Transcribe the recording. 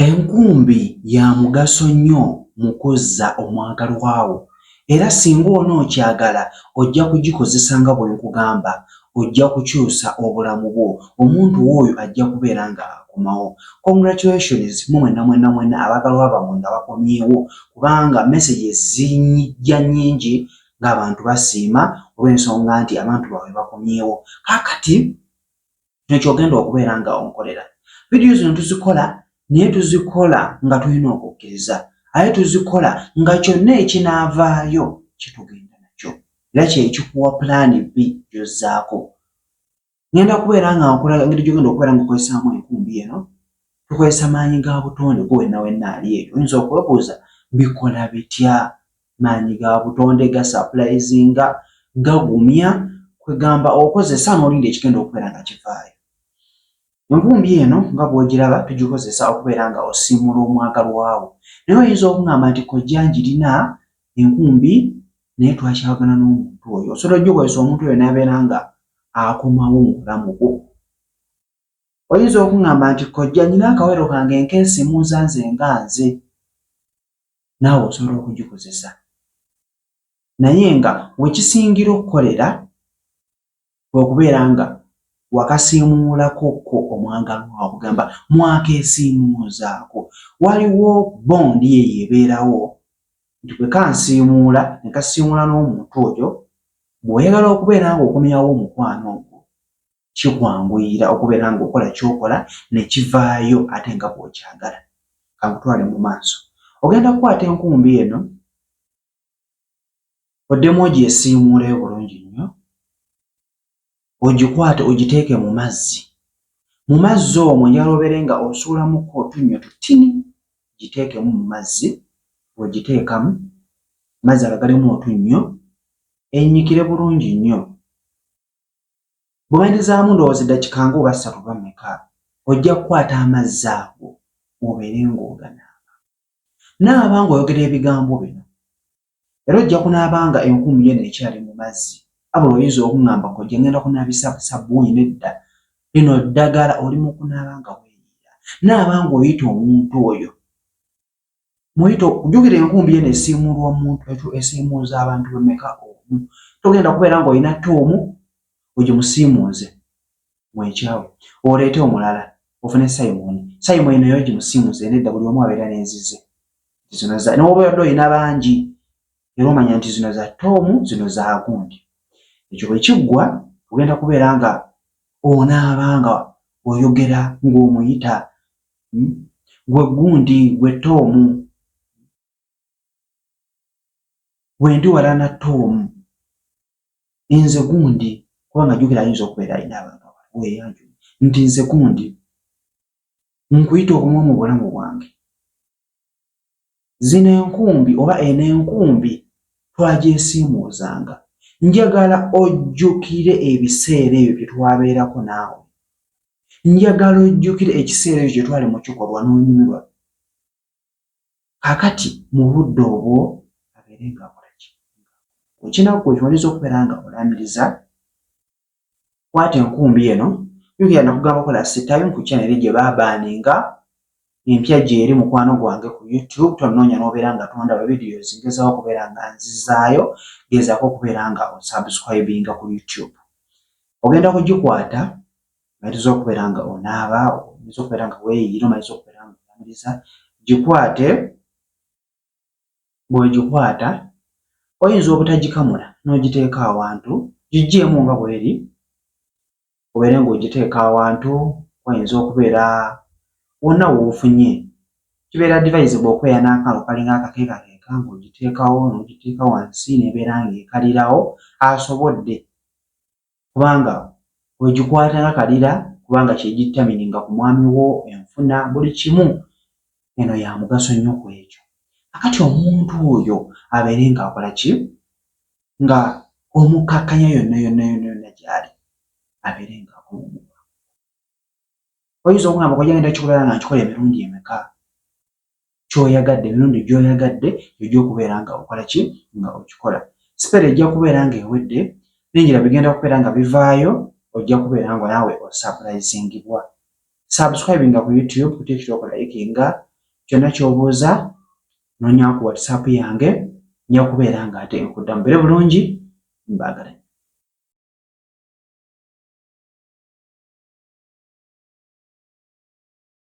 Enkumbi ya mugaso nnyo mu kuzza omwagalwa wo era singa onookyagala ojja kugikozesa nga bwe nkugamba, ojja kukyusa obulamu bwo, omuntu wo oyo ajja kubeera nga akomawo. Congratulations mwe mwenna mwenna mwenna abaagalwa bammwe nga bakomyewo kubanga messages zijja nnyingi ng'abantu basiima olw'ensonga nti abantu baabwe bakomyewo. Kaakati kino kyogenda okubeera nga onkolera vidiyo zino tuzikola naye tuzikola nga tulina okukkiriza aye tuzikola nga kyonna ekinaavaayo kyetugenda nakyo era kyekikuwa pulaani bbi gyozzaako ngenda kubeera nga nkulaga ngeri gyogenda okubeera nga okozesaamu enkumbi eno tukozesa maanyi ga butonde kuwenna wenna ali eyo oyinza okwebuuza bikola bitya maanyi ga butonde ga sapulayizinga gagumya kwegamba okozesa n'olinda ekigenda okubeera nga kivaayo envumbi eno nga bw'ogiraba tugikozesa okubeera nga osiimuula omwagalwawo naye oyinza okungamba nti kojja ngirina enkumbi naye twakyawagana n'omuntu oyo osobola ogikozesa omuntu oyo n'abeera nga akomawo mu bulamu bwo oyinza okungamba nti kojja nyina akawero kange nkensimuuza nze nga nze naawe osobola okugikozesa naye nga wekisingira okukolera okubeera nga wakasiimuulako ko omwagalwa okugamba mwakeesiimuuzaako waliwo bondi eyo ebeerawo nti bwe kansiimuula ne kasiimuula n'omuntu oyo bw'oyagala okubeera nga okomyawo omukwano ogwo kikwanguyira okubeera ng'okola kyokola ne kivaayo ate nga bw'okyagala. Kankutwale mu maaso. Ogenda kukwata enkumbi eno oddemu ogyesiimuuleyo bulungi nnyo, ogikwate ogiteeke mu mazzi. Mu mazzi omwo njala obeere nga osuulamuko otunnyo tutini, giteekemu mu mazzi. Bw'ogiteekamu mazzi agagalemu otunnyo ennyikire bulungi nnyo. Bw'oyandizaamu ndowooza eddakika nga oba ssatu oba mmeka, ojja kukwata amazzi ago obeere ng'oganaaba. Naaba ng'oyogera ebigambo bino, era ojja kunaaba nga enkumu yona ekyali mu mazzi. Abula oyinza okungamba, Kojja ngenda kunaabisa sabbuuni. Nedda, lino ddagala. Oli mu kunaaba nga weeyiira. Naaba ng'oyita omuntu oyo. muyito jukira enkumbi eno esiimuulwa omuntu ekyo esiimuuza abantu bemeka omu togenda kubeera nga olina tte omu ojo musiimuuze mwekyawe oleete omulala ofune simoni simoni naye ojo musiimuuze nedda buli omu abeera nenzize zino za nowoba yadde olina bangi era omanya nti zino za tte omu zino zagundi ekyo bwekiggwa ogenda kubeera nga onaaba nga oyogera ng'omuyita hmm? gwe gundi gwe toomu gwendi wala na toomu nze gundi kubanga jukira ayinza okubeera alina abantu abaweyanju nti nze gundi nkuyita obumu mu bulamu bwange Zino enkumbi oba eno enkumbi twagyesiimuuzanga. Njagala ojjukire ebiseera ebyo bye twabeerako naawe. Njagala ojjukire ekiseera ekyo kye twali mu kikolwa n'onyumirwa. Kakati mu budde obwo abeere ng'akola ki? Ekinaku ekyo oyinza okubeera nga olaamiriza kwata enkumbi eno jukira nakugamba kola sitime ku chanel gye babaninga empya gyeri mukwano gwange ku youtube tonoonya nobeera nga tondaba videos ngezaho okubeera nga nzizaayo gezako okubeera nga osubscribinga ku youtube ogenda kugikwata maliza okubeera nga onaaba omaze okubeera nga weyiira omaze okubeera nga oamiriza gikwate bw'ogikwata oyinza obutagikamula n'ogiteeka awantu, giggyeemu nga bw'eri obeere ng'ogiteeka awantu wayinza okubeera wonna w'ofunye. Kibeera advisable okweya n'akantu kalinga akakeekakeeka ng'ogiteekawo n'ogiteeka wansi n'ebeera ng'ekalirawo asobodde kubanga ogikwata nga kalira kubanga kyegitamini nga ku mwami wo enfuna buli kimu eno ya mugaso nnyo ku ekyo akati omuntu oyo abeere nga akola ki nga omukkakkanya yonna yonna yonna yonna gyali abeere nga akulumuka oyinza okugamba kojagenda kikola nga nkikola emirundi emeka kyoyagadde emirundi gyoyagadde gyojja okubeera nga okola ki nga okikola sipere ejja kubeera nga ewedde bingira bigenda kubeera nga bivaayo ojja kubeera nga naawe osapulizingibwa subscribinga ku youtube kutekira okulayikinga kyonna kyobuuza nonya ku whatsapp yange nja kubeera nga ate nkuddamu bere bulungi mbaagala